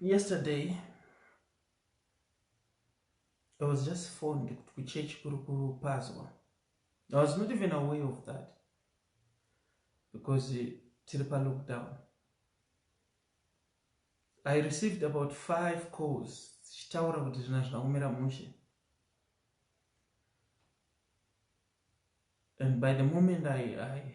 yesterday i was just phoned kuti kuchurch kuri kupazwa i was not even away of that because tiri palockdown i received about five calls zvichitaura kuti zvina zvaumira mushe and by the moment i, I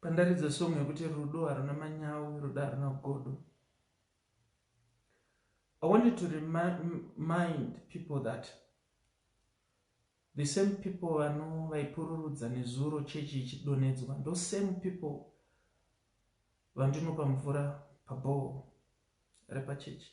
Pandaridza song yekuti rudo haruna manyawi rudo haruna godo. I wanted to remind people that the same people vano vaipururudza nezuro chechi ichidonedzwa ndo same people vandinopa mvura pabhoho repachechi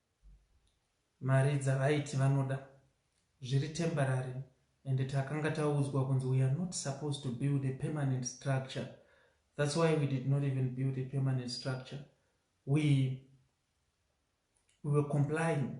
Mari dzavaiti vanoda zviri temporary and takanga taudzwa kunzi we are not supposed to build a permanent structure that's why we did not even build a permanent structure we, we were complying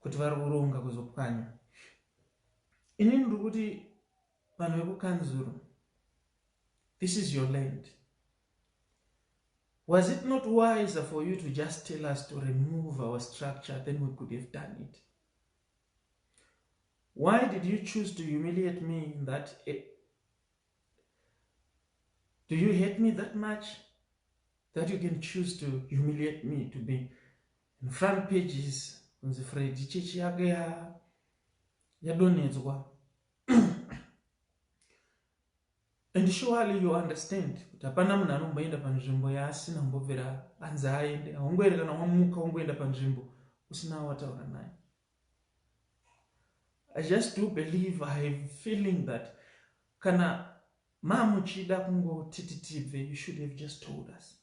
kuti vari kuronga kuzopwanya inini ndiri kuti vanhu vekukanzuru this is your land was it not wiser for you to just tell us to remove our structure then we could have done it why did you choose to humiliate me in that eh, Do you hate me that much that you can choose to humiliate me to be In front pages kunzi Freddy chechi yake ya yadonhedzwa and surely you understand kuti hapana munhu anomboenda panzvimbo yaasina kumbobvira anzi aende haungoere kana wamuka ungoenda panzvimbo usina wataura naye i just do believe i have feeling that kana mamuchida kungotiti tibve you should have just told us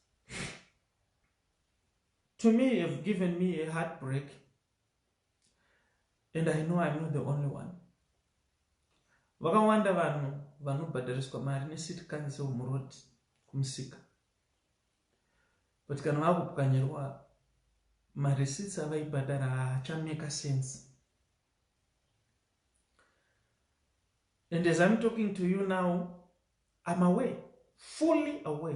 to me you have given me a heartbreak and i know i'm not the only one vakawanda vanhu vanobhadhariswa mari necity council muroad kumusika but kana vakupwanyirwa marecits avaibhadhara haachameka sense and as i'm talking to you now i'm away fully away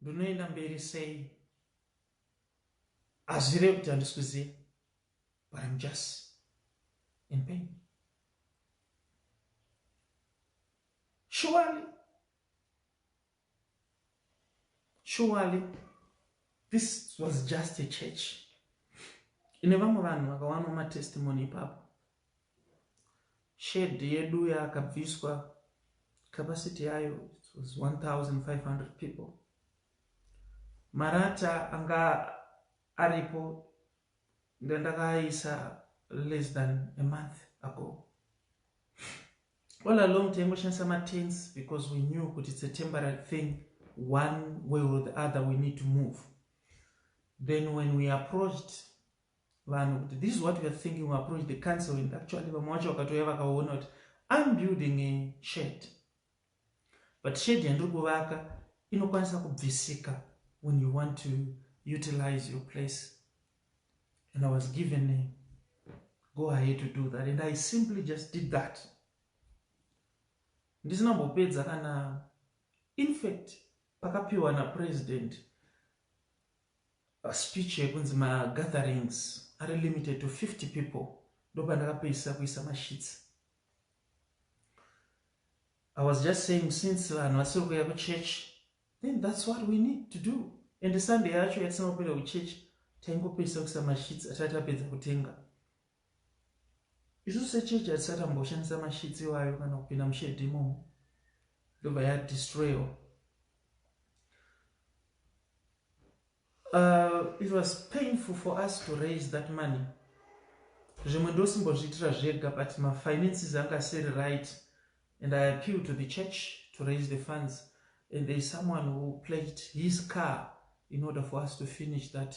Ndonoenda mberi sei? Hazvireve kuti handisi kuziva but I'm just in pain. Surely, surely this was just a church. Ine vamwe vanhu vakawana matestimony ipapo Shed yedu yakabviswa capacity yayo was 1500 people. Marata anga aripo ndandakaisa less than a month ago. All along taingoshandisa matents because we knew kuti it's a temporary thing one way or the other we need to move. Then when we approached vanhu kuti this is what we are thinking we approach the council and actually vamwe wacho vakatouya vakaona kuti I'm building a shed but shed yandiri kuvaka inokwanisa kubvisika when you want to utilize your place and I was given a go ahead to do that and I simply just did that ndisina mbopedza kana infact pakapiwa napresident Speech yekunzi ma gatherings ari limited to 50 people ndopandakapedzisa kuisa ma sheets. I was just saying since vanhu vasiri kuuya kuchurch then that's what we need to do and Sunday yacho yatisina kupinda kuchurch taingopedzisa kuisa ma sheets atai tapedza kutenga. Isu sechechi hatisati tamboshandisa masheets iwayo kana kupinda mushedhi imomo ndobva yadestroyiwa uh, it was painful for us to raise that money zvimwe ndosimbozviitira zvega but mafinances anga asiri right and i appeal to the church to raise the funds and there is someone who played his car in order for us to finish that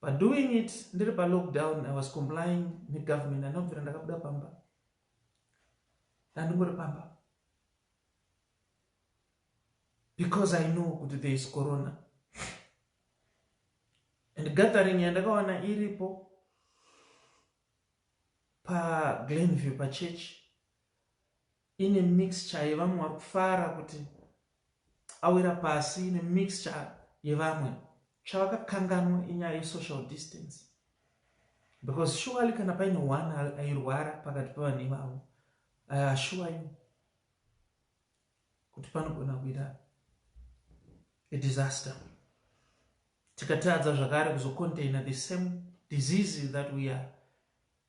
But doing it ndiri pa lockdown I was complying ne government handina kubvira ndakabuda pamba ndandingori pamba because I know kuti there is corona and gathering yandakawana iripo pa Glenview pa church Ine mixture yevamwe varikufara kuti awira pasi ine mixture yevamwe chavakakanganwa inyaya ye social distance because surely kana paine one airwara pakati pevanhu ivavo i assure you kuti panogona kuita a disaster tikatadza zvakare kuzocontaina the same disease that we are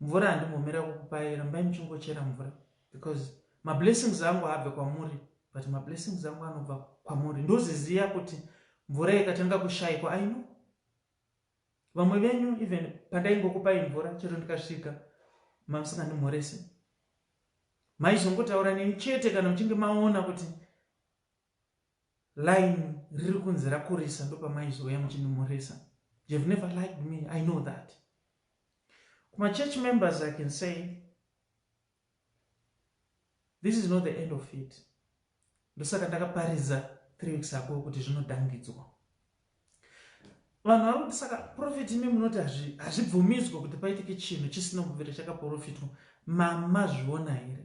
Mvura handimhomera kukupai rambai muchingochera mvura because mablessings angu haabve kwamuri but mablessings angu anobva kwamuri ndoziziya kuti mvura ikatanga kushaikwa I know vamwe venyu even pandaingokupai mvura chero ndikasvika mamusingandimhorese maizongotaura neni chete kana muchinge maona kuti line riri kunzi rakurisa ndopamaizouya muchinimhoresa you've never liked me i know that kuma church members i can say this is not the end of it ndosaka ndakaparidza three weeks ago kuti zvinodangidzwa vanhu vari kuti saka profeti imi munoti hazvibvumidzwe kuti paitike chinhu chisina kubvira chakaprofitwa mamazviona here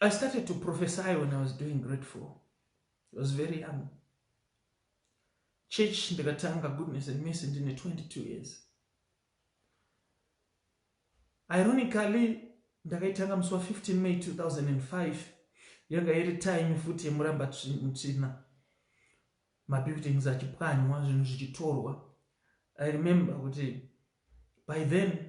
I started to prophesy when I was doing grade four. I was very young. Church ndikatanga goodness and mercy ndine 22 years. Ironically, ndakaitanga musi wa 15 May 2005 yanga iri time futi yemuramba mutsvina mabuildings achipwanywa zvinhu zvichitorwa. I remember kuti by then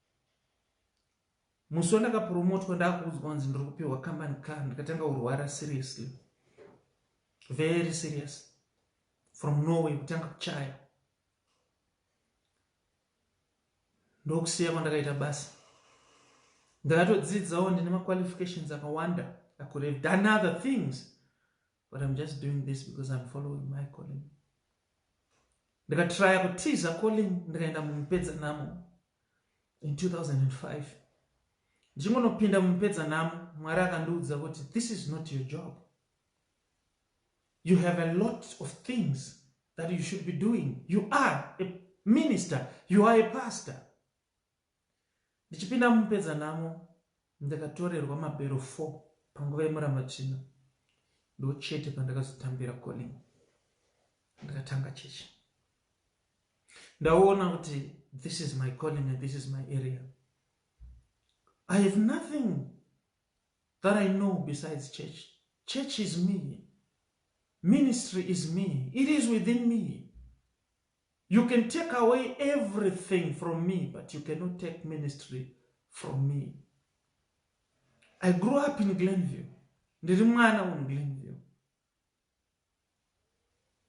musi wandakapromotwa ndakuudzwa kunzi ndiri kupiwa company car ndikatanga kurwara seriously very serious from norway kutanga kuchaya ndokusiya kwandakaita basa ndakatodzidzawo ndine maqualifications akawanda i could have done other things but I'm just doing this because I'm following my calling. Ndikatraya kutiza calling ndikaenda mumupedza namo in 2005. Ndichingonopinda mumupedza namo Mwari akandiudza kuti this is not your job. You have a lot of things that you should be doing. You are a minister. You are a pastor. Ndichipinda mumupedzanhamo, ndakatorerwa mabhero four panguva yeMurambatsvina ndochete pandakazotambira calling ndikatanga chechi. Ndaona kuti this is my calling and this is my area. I have nothing that I know besides church. Church is me. Ministry is me. It is within me. You can take away everything from me but you cannot take ministry from me. I grew up in Glenview. Ndiri mwana un Glenview.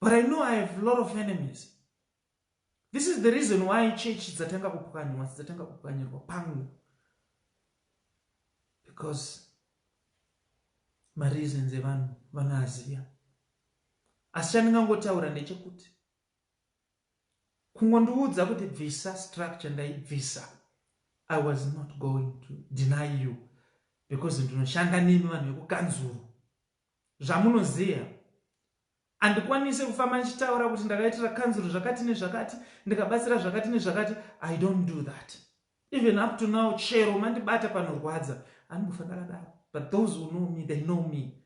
But I know I have a lot of enemies. This is the reason why church dzatanga kupwanywa dzatanga kupwanyirwa pangu. Because mareasons evanhu vanoaziva asi chandingangotaura ndechekuti Kungondiudza kuti bvisa structure ndaibvisa I was not going to deny you because ndinoshanda nemi vanhu vekukanzuru zvamunoziva handikwanise kufamba ndichitaura kuti ndakaitira kanzuru zvakati nezvakati ndikabatsira zvakati nezvakati i don't do that even up to now chero mandibata panorwadza andibufa ndakadaro but those who know me they know me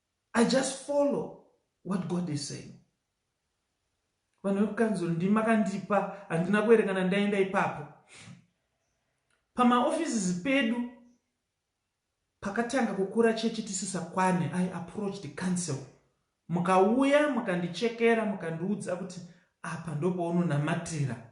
I just follow what God is saying. Vanhu vekukanzuru ndimi makandipa handina kuerekana ndaenda ipapo pamaoffices pedu pakatanga kukura chechi tisisakwane i approached the council mukauya mukandichekera mukandiudza kuti apa ndopaunonamatira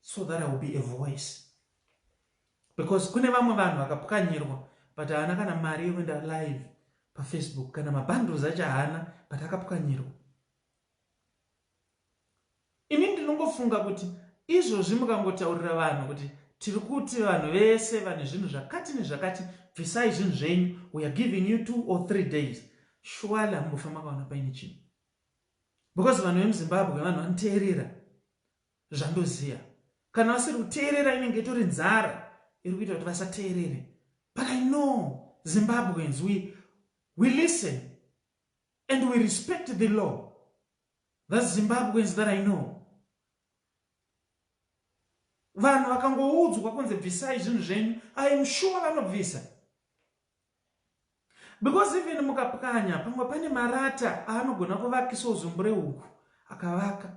so that I will be a voice because kune vamwe vanhu vakapwanyirwa but haana kana mari yekuenda live pafacebook kana mabundles acho haana but akapwanyirwa ini ndinongofunga kuti izvozvi mukangotaurira vanhu kuti tiri kuti vanhu vese vane zvinhu zvakati nezvakati bvisai zvinhu zvenyu weare giving you two or three days shuwali hamubofa makaona paine chinhu because vanhu vemuzimbabwe vanhu vanoteerera zvandoziya kana vasiri kuteerera inenge itori nzara iri kuita kuti vasateerere but i know zimbabweans we, we listen and we respect the law thats zimbabweans that i know vanhu vakangoudzwa kunze bvisai zvinhu zvenyu iam sure vanobvisa because even mukapwanya pamwe pane marata aanogona kuvakisa uzumbu rehuku akavaka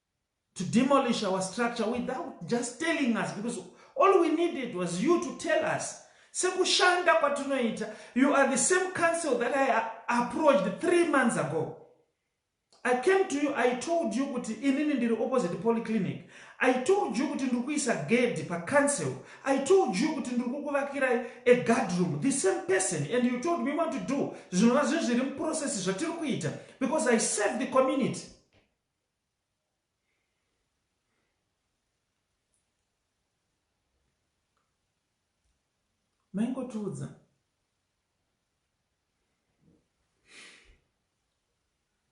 to demolish our structure without just telling us because all we needed was you to tell us sekushanda kwatinoita you are the same council that i approached three months ago i came to you i told you kuti inini ndiri opposite polyclinic i told you kuti ndiri kuisa gedi pacouncil i told you kuti ndiri kukuvakirai a guard room the same person and you told me want to do zvinova zvinhu zviri muprocess zvatiri kuita because i serve the community Maingotiudza.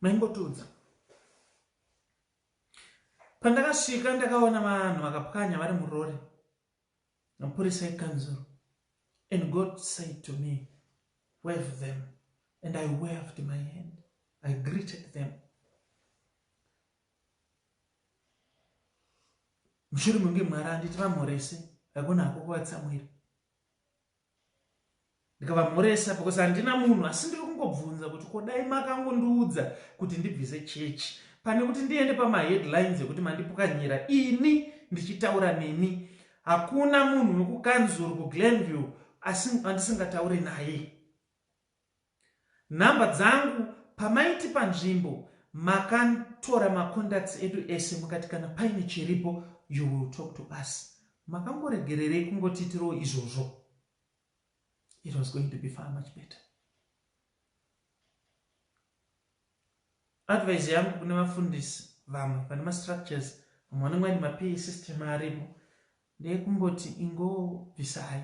Maingotiudza. Pandakasvika ndakaona vanhu vakapwanya vari murori. Mapurisa ekanzuru and God said to me wave them and I waved my hand I greeted them mushure menge mwari anditi vamhorese hakuna hako kuvatsamwira ndikavamhoresa because handina munhu asi ndiri kungobvunza kuti ko dai makangondiudza kuti ndibvise chechi pane kuti ndiende pamaheadlines ekuti mandipukanyira ini ndichitaura nemi hakuna munhu wekukanzuru kuglenview asi andisingataure naye Number dzangu pamaiti panzvimbo makantora macontacts edu ese mukati kana paine chiripo you will talk to us makangoregererei kungotiitirawo izvozvo it was going to be far much better advise yangu kune vafundisi vamwe vane mastructures vamwe vanenge vaine mapay system aripo ndeyekumboti ingobvisai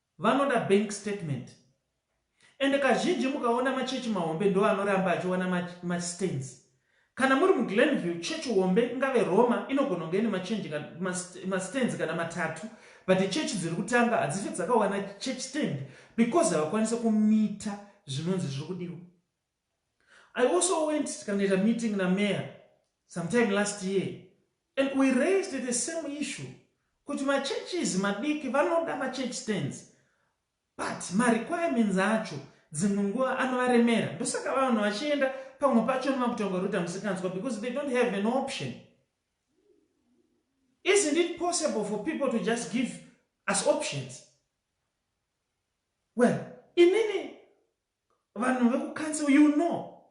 Vanoda bank statement. Ende kazhinji mukaona machurch mahombe ndoanoramba achiwana ma ma stains. Kana muri mu Glenview church hombe ingave Roma inogona kunge ine ma change ma ma stains kana matatu but church dziri kutanga hadzife dzakawana church stand because havakwanise kumita zvinonzi zviri kudiwa. I also went tikanoita meeting na mayor sometime last year and we raised the same issue kuti ma churches madiki vanoda ma church stands but ma requirements acho dzimwe nguva anovaremera ndosaka vanhu vachienda pamwe pacho nemakutonga ruta musikanzwa because they don't have an option isn't it possible for people to just give us options well inini Vanhu vekucouncil you know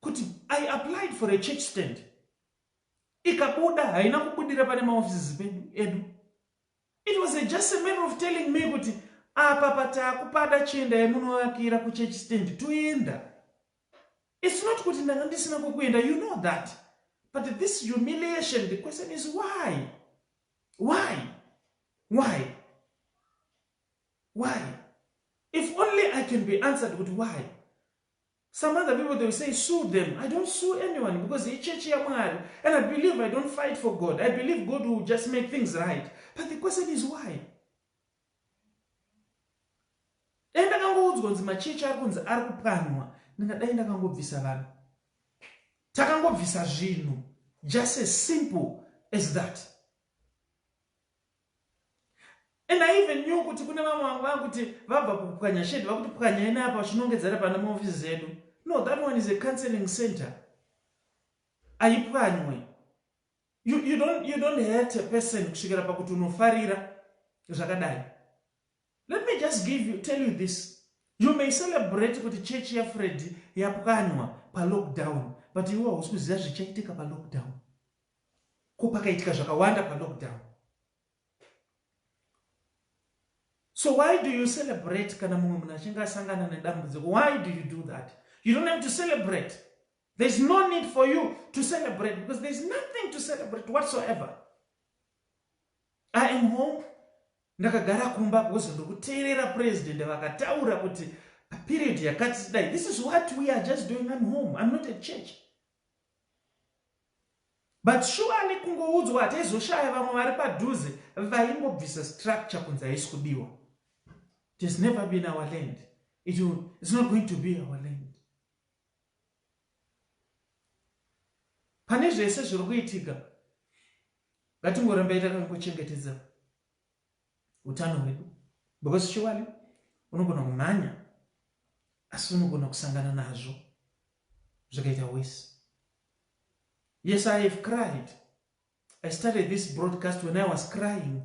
kuti I applied for a church stand ikabuda haina kubudira pane maoffices pedu edu it was a just a matter of telling me kuti apa patakupada chienda yemunovakira kuchurch stand toenda it's not kuti ndanga ndisina kwekuenda you know that but this humiliation the question is why why why Why? If only I can be answered kuti why? Some other people they will say sue them. I don't sue anyone because he church yamwari and I believe I don't fight for God. I believe God will just make things right. But the question is why? Dai ndakangoudzwa kunzi machechi ari kunzi ari kupwanwa ndingadai ndakangobvisa vanhu. Takangobvisa zvinhu just as simple as that. And I even knew kuti kune vamwe vangu vakuti vabva kupwanya shedi vakuti pwanyai neapa vachinongedzera pana maofisi zedu no that one is a counseling center aipwanywe you, you, don't, you don't hurt a person kusvikira pakuti unofarira zvakadai let me just give you, tell you this you may celebrate kuti chechi yafredi yapwanywa palockdown but iwe hausi kuziva zvichaitika palockdown Ko pakaitika zvakawanda pa lockdown. So why do you celebrate kana mumwe munhu achinge asangana nedambudziko? Why do you do that? You don't have to celebrate. There's no need for you to celebrate because there's nothing to celebrate whatsoever. I am home ndakagara kumba because ndokuteerera president vakataura kuti period yakati sidai this is what we are just doing I'm home I'm not a church But surely kungoudzwa hataizoshaya vamwe vari padhuze vaimbobvisa structure kunzi haisi kudiwa. It has never been our land. It will, it's not going to be our land. Pane zvese zviri kuitika ngatingoramba itakangochengetedza utano hwedu because chokwadi unogona kumhanya asi unogona kusangana nazvo zvakaita worse yes i have cried i started this broadcast when i was crying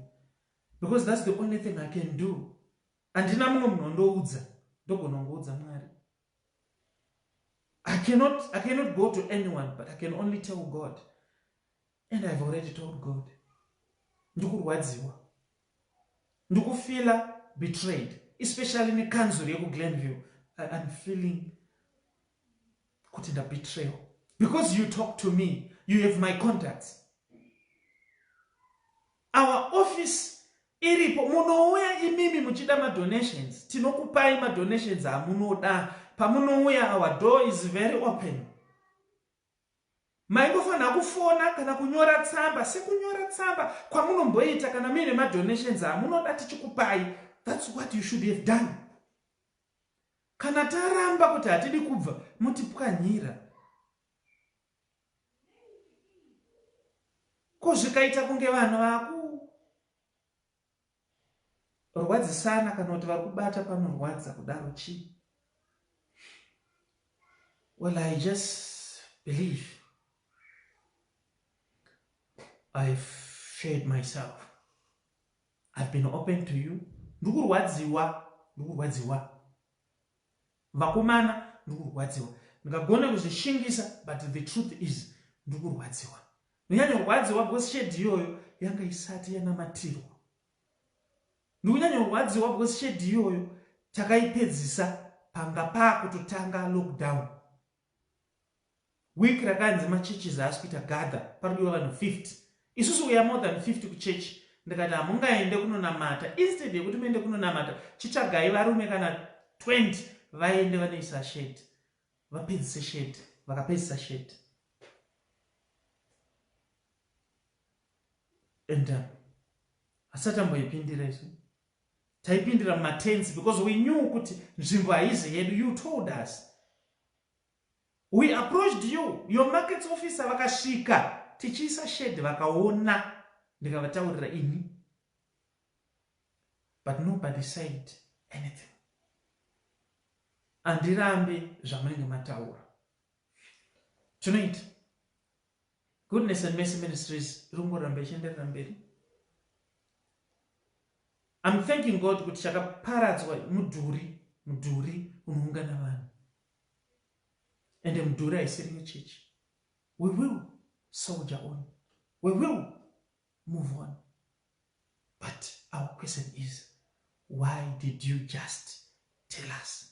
because that's the only thing i can do handina mumwe munhu ondoudza ndogona kungoudza mwari I cannot, I cannot go to anyone but I can only tell God and I've already told God ndikurwadziwa ndikufeela betrayed especially nekanzuro yekuglenville I'm feeling kuti ndabetrayo because you talk to me you have my contacts Our office iripo munouya imimi muchida madonations tinokupai madonations amunoda pamunouya our door is very open maingofanira kufona kana kunyora tsamba sekunyora tsamba kwamunomboita kana muine madonations amunoda tichikupai thats what you should have done kana taramba kuti hatidi kubva motipwanyira Ko zvikaita kunge vanhu vaku rwadzisana kana kuti vakubata panorwadza kudaro chii? Well, I just believe I've shared myself. I've been open to you. Ndikurwadziwa, ndikurwadziwa. Vakomana ndikurwadziwa ndikagona kuzvishingisa but the truth is ndikurwadziwa ndinyanyorwadziwa because shade iyoyo yanga isati yanamatirwa ndikunyanyorwadziwa because shade iyoyo takaipedzisa panga pakutotanga lockdown Week rakanzi ma churches haasi kuita gather parikudiwa vanhu 50. Isusu we are more than 50 kuchurch ndikati hamungaende kunonamata instead yekuti muende kunonamata chitsvagai varume kana 20 vaende vanoisa shed vapedzise shed vakapedzisa shed and um, hasati amboipindira isu taipindira mumatenzi because we knew kuti nzvimbo haizi yedu you told us we approached you your markets officer vakasvika tichiisa shed vakaona ndikavataurira ini but nobody said anything andirambe zvamunenge mataura tonight Goodness and Mercy Ministries iri kungoramba ichienderera mberi. I'm thanking God kuti chakaparadzwa mudhuri, mudhuri unoungana vanhu. Ende mudhuri haisiri yechechi. We will soldier on. We will move on. But our question is, why did you just tell us?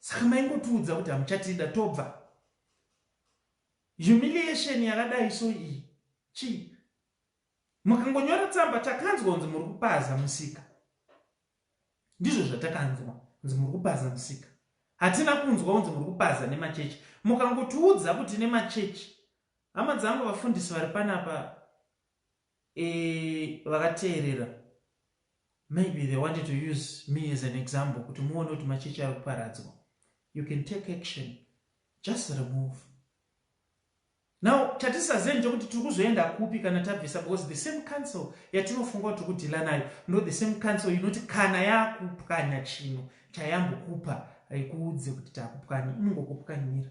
Saka maingotiudza kuti hamuchatida tobva. Humiliation yakadai so iyi chii? Mukangonyora tsamba takanzwa kunzi muri kupaza musika. Ndizvo zvatakanzwa kunzi muri kupaza musika. Hatina kunzwa kunzi muri kupaza nemachechi. Mukangotiudza kuti nemachechi hama dzangu vafundisi vari panapa Eeh vakateerera maybe they wanted to use me as an example kuti muone kuti machechi ari kuparadzwa. You can take action just remove. Now chatisazive ndechekuti tiri kuzoenda kupi kana tabvisa because the same council yatinofunga kuti tiri kudhila nayo ndo the same council inoti kana yakupwanya chino chayambokupa haikuudze kuti takupwanya inongokupwanyira.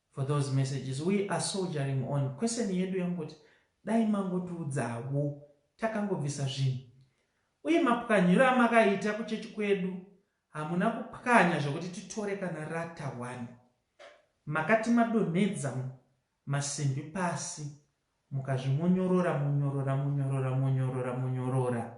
for those messages we are soldiering on question yedu yangoti dai mangotiudzawo takangobvisa zvinhu uye mapwanyiro amakaita kuchechi kwedu hamuna kupwanya zvekuti titore kana rata one makati madonhedza masimbi pasi mukazvimonyorora monyorora monyorora monyorora monyorora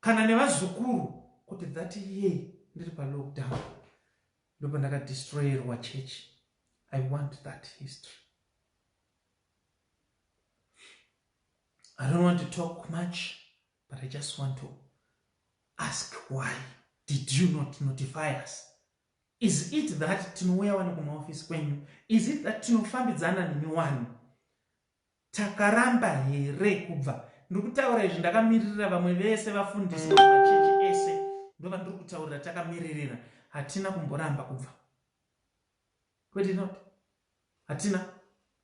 kana nevazukuru kuti that year ndiri palockdown ndopandakadestroyerwa church i want that history i don't want to talk much but i just want to ask why did you not notify us is it that tinouya wani kumaofisi kwenyu is it that tinofambidzana nemi wani Takaramba here kubva. Ndiri kutaura izvi ndakamiririra vamwe vese vafundisi vemachechi ese ndovandiri kutaurira takamiririra hatina kumboramba kubva. Kwete not. Hatina.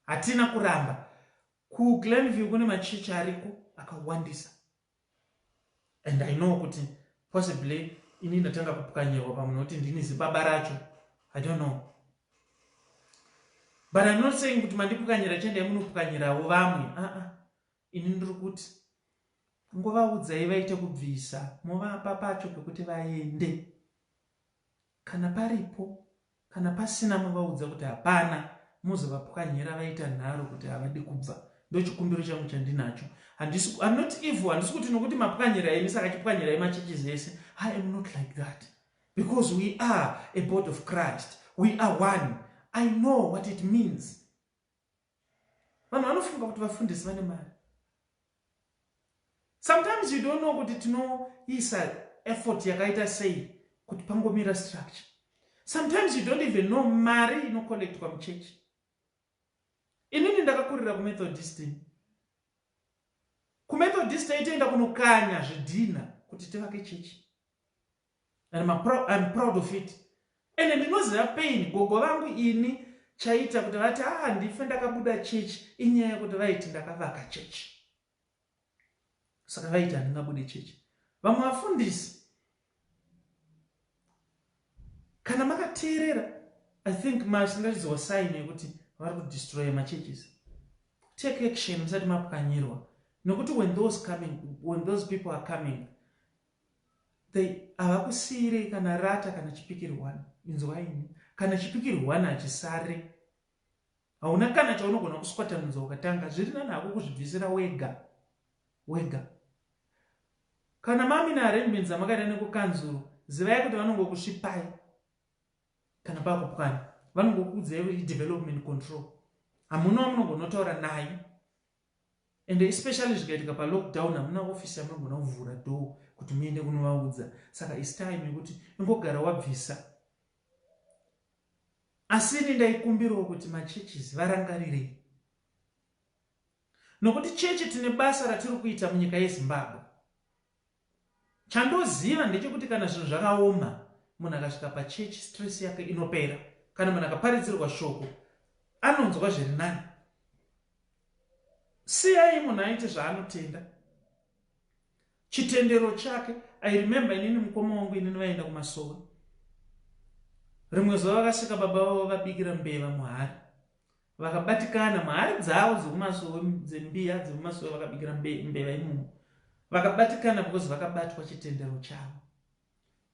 Hatina kuramba. KuGlenview kune machechi ariko akawandisa. and i know kuti possibly ini ndatanga kupwanyirwa pamwe nokuti ndini zibaba racho i don't know but im not saying kuti mandipwanyira chendai munopwanyirawo vamwe aa uh -uh. ini ndiri kuti nguvaudzai vaite kubvisa movapa pacho pekuti vaende Kana paripo kana pasina movaudza kuti hapana mozovapwanyira vaita nharo kuti havadi kubva ndochikumbiro changu chandinacho handisi I'm not evil handisi kuti nokuti mapwanyira imi saka chipwanyirai machurches ese I am not like that because we are a body of Christ we are one I know what it means Vanhu vanofunga kuti vafundisi vane mari. Sometimes you don't know kuti tinoisa effort yakaita sei kuti pangomira structure. Sometimes you don't even know mari inocollectwa muchechi. Inini ndakakurira kuMethodist. KuMethodist taitoenda kunokanya zvidhina kuti tivake chechi. and I'm proud of it ende ndinoziva pain gogo vangu ini chaita kuti vati aa ndife ndakabuda chechi inyaya yekuti vaiti ndakavaka chechi saka vaiti handingabude chechi vamwe vafundisi kana makateerera i think masingachiziwa saini yekuti vari kudestroye machurches take action musati mapwanyirwa nekuti when those coming when those people are coming They havakusiirei kana rata kana chipikiri one inzwa ini kana chipikiri one hachisare hauna kana chaunogona kuswatanudza ukatanga zviri nani hako kuzvibvisira wega wega kana mami naarrangement dzamakaita nekukanzuru zivai kuti vanongokusvipai kana pakupwana vanongokuudzai development control hamuna wamunongonotaura naye Ende especially zvikaitika pa lock down hamuna office yamunogona kuvhura door kuti muende kunovaudza saka is time yekuti ingogara wabvisa. Asi ini ndaikumbirawo kuti ma churches varangarirei nokuti chechi tine basa ratiri kuita munyika yeZimbabwe. Chandoziva ndechekuti kana zvinhu zvakaoma munhu akasvika pachurch stress yake inopera kana munhu akaparidzirwa shoko anonzwa zviri nani. Siyai munhu aite zvaanotenda chitendero chake. I remember inini mukoma wangu inini vaenda kumasowe rimwe zuva vakasvika baba vavo vabikira mbeva muhari Vakabatikana muhari dzavo dzekumasowe dzembiya dzemumasowe vakabikira mbeva imomo. Vakabatikana because vakabatwa chitendero chavo.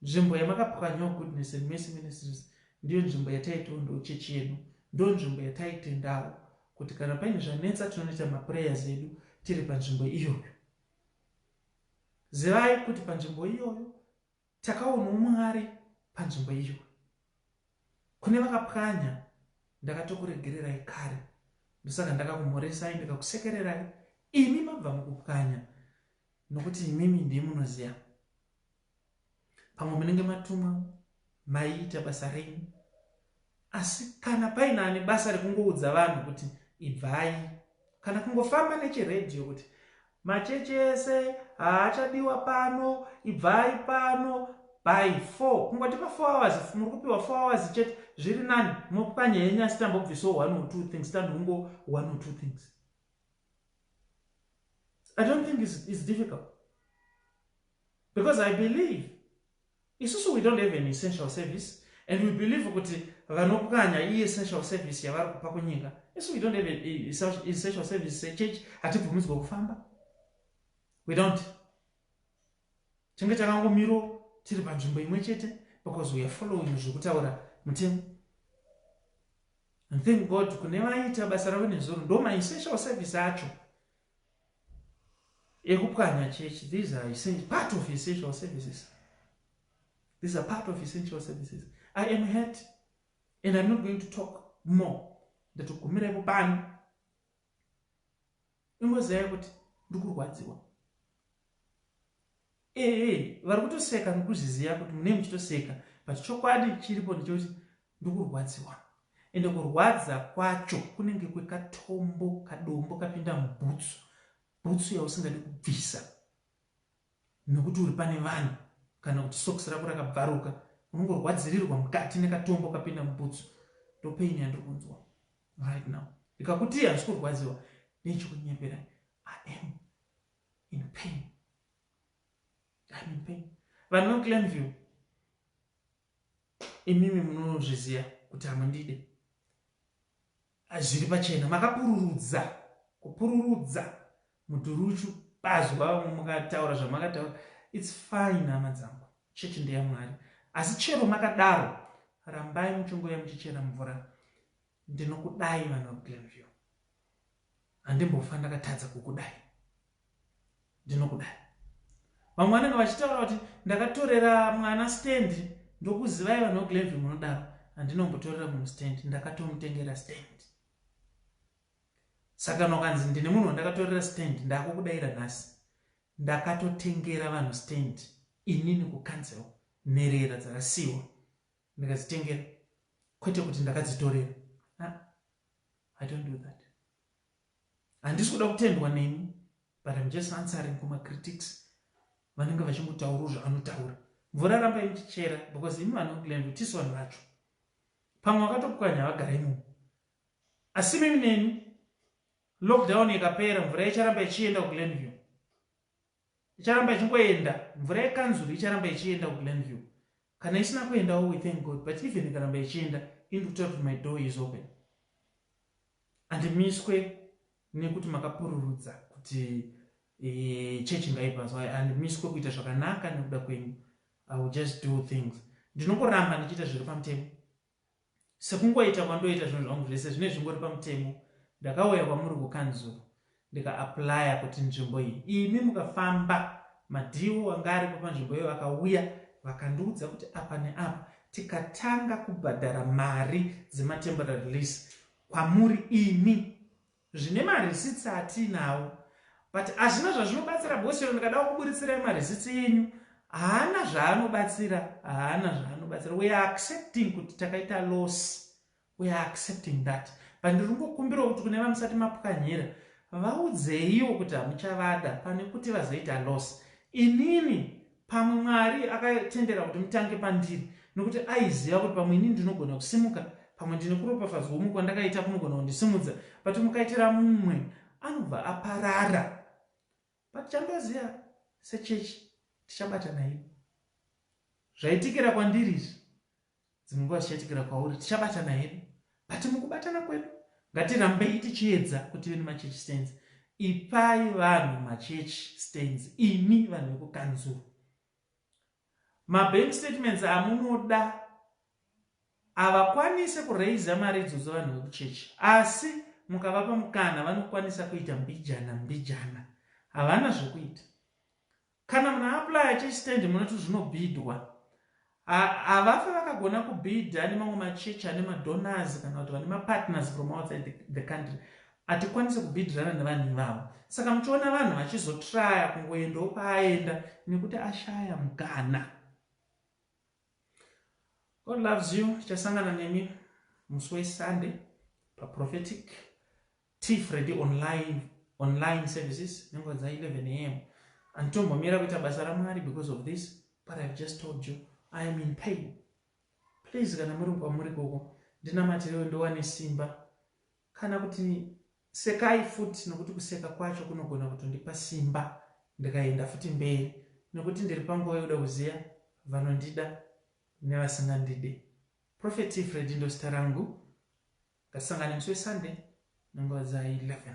Nzvimbo yamakapwanyawo Goodness and Mercy Ministries ndiyo nzvimbo yataitondawo chechi yedu. Ndo nzvimbo yataitendawo kuti kana paine zvanetsa tinonoita maprayers edu tiri panzvimbo iyoyo. Zivai kuti panzvimbo iyoyo Takaonawo Mwari panzvimbo iyo. Kune vakapwanya ndakatokuregererai kare ndosaka ndakakumhoresai ndikakusekererai imi mabva mukupwanya nokuti imimi ndiye munoziva pamwe munenge matumwa maiita basa renyu Asi kana paine ane basa rekungoudza vanhu kuti ibvai, kana kungofamba nechiredhiyo kuti machechi ese haachadiwa pano, ibvai pano by 4, kungoti pa 4 hours muri kupiwa 4 hours chete, zviri nani, mopwanya henyu asi tambobvisawo one or two things, tanhongo one or two things. I don't think it's, it's difficult because I believe Isusu we don't have an essential service and we believe kuti vanopwanya i essential service yavari kupa kunyika. Isu we don't have an essential service sechurch hatibvumidzwe kufamba. We don't. Tinge takangomiro tiri panzvimbo imwe chete because we are following zvekutaura mutemo. And thank God kune vaita basa ravo nezuro ndo ma essential service acho. ekupwanya church these are essential part of essential services these are part of essential services i am hurt and i'm not going to talk more ndatogumira ipo pano ingozivai kuti ndi kurwadziwa Ehe vari kutoseka nokuzviziva kuti munei muchitoseka but chokwadi chiripo ndechekuti ndikurwadziwa ende kurwadza kwacho kunenge kwekatombo kadombo kapinda mubhutsu bhutsu yausingadi kubvisa nokuti uri pane vanhu kana kuti sokisi rako rakabvaruka unongorwadzirirwa mukati nekatombo kapinda mubhutsu ndopeini yandiri kunzwa right now ndikakuti handisi kurwadziwa nechekunyepera i am in pain Hanipe. Vanhu vekuGlenview imimi munozviziva kuti hamundide. Zviri pachena makapururudza kupururudza muduruchu bazi wavo mukataura zvamakataura its fine hama dzangu chechi ndeyamwari asi chero makadaro rambai muchingoya muchichera mvura ndinokudai vanhu vekuglenview handimbofa ndakatadza kukudai ndinokudai vamwe vanenge vachitaura kuti ndakatorera mwana stand ndokuzivai vanhu veglenvy munodaro handinombotorera munhu stand ndakatomutengera stand saka nokanzi ndine munhu wandakatorera stand ndakukudaira nhasi ndakatotengera vanhu stand inini kucancel nherera dzakasiwa ndikadzitengera kwete kuti ndakadzitorera ah, i don't do that Handisi kuda kutendwa nemi but I'm just answering kuma critics vanenge vachingotaurawo zvaanotaura. Mvura rambai muchichera because imi vanhu vekuGlenview tisu vanhu vacho. Pamwe vakatopwanya vagara imomo. Asi mimi nemi lockdown ikapera mvura icharamba ichienda kuGlenview. Icharamba ichingoenda. Mvura yekanzuru icharamba ichienda kuGlenview. Kana isina kuendawo we thank God but even ikaramba ichienda ini ndikutaura kuti my door is open. Handimiswe nekuti makapururudza kuti eh, chechi ngaipaso handimiswe kuita zvakanaka nekuda kwenyu. I will just do things. Ndinongoramba ndichiita zviri pamutemo. Sekungoita kwandoita zvinhu zvangu zvese zvine zvingori pamutemo ndakauya kwamuri kukanzuru ndika applier kuti nzvimbo iyi imi mukafamba madhiwo anga aripo panzvimbo iyo vakauya vakandiudza kuti apa neapa tikatanga kubhadhara mari dzematemporary lease kwamuri imi Zvine ma receipts atiinawo but hazvina zvazvinobatsira because chero ndikadawo kuburitsirayi ma receipts enyu haana zvaanobatsira haana zvaanobatsira we are accepting kuti takaita loss we are accepting that but ndiri kungokumbirawo kuti kune vamusati mapwanyira vaudzeiwo kuti hamuchavada pane kuti vazoita loss inini Pamwe Mwari akatendera kuti mutange pandiri nokuti aiziva kuti pamwe ini ndinogona kusimuka, pamwe ndine kuropafadzwa kumwe kwandakaita kunogona kundisimudza, but mukaitira mumwe anobva aparara. But chandoziva sechechi tichabatana hedu. Zvaitikira kwandiri izvi Dzimwe nguva zvichaitikira kwauri tichabatana hedu but mukubatana kwedu ngatirambei tichiedza kuti veni machurch stands ipai vanhu machurch stands imi vanhu vekukanzuru mabank statements amunoda havakwanise kuraiza mari idzodzo vanhu vekuchechi asi mukavapa mukana vanokwanisa kuita mbijana mbijana havana zvekuita Kana muna applier chestand munoti zvinobhidhwa. Havafe vakagona kubhidha nemamwe machechi ane madonors kana kuti vane mapartners from outside the country. Hatikwanise kubhidhirana nevanhu ivavo. Saka muchiona vanhu vachizotraya kungoendawo kwaaenda nekuti ashaya mukana. God loves you tichasangana nemi musi weSunday paProphetic Tea Freddy online online services nenguva dza 11 am anditombomira kuita basa ramwari because of this but ihave just told you i am in pain please kana muri kwamuri koko ndinamatirewo ndiwane simba Kana kuti sekai futi nokuti kuseka kwacho kunogona kutondipa simba ndikaenda futi mberi nokuti ndiri panguva yokuda kuziva vanondida nevasingandide. Prophet Freddy ndozita rangu. Ngatisangane musi weSunday nenguva dza 11.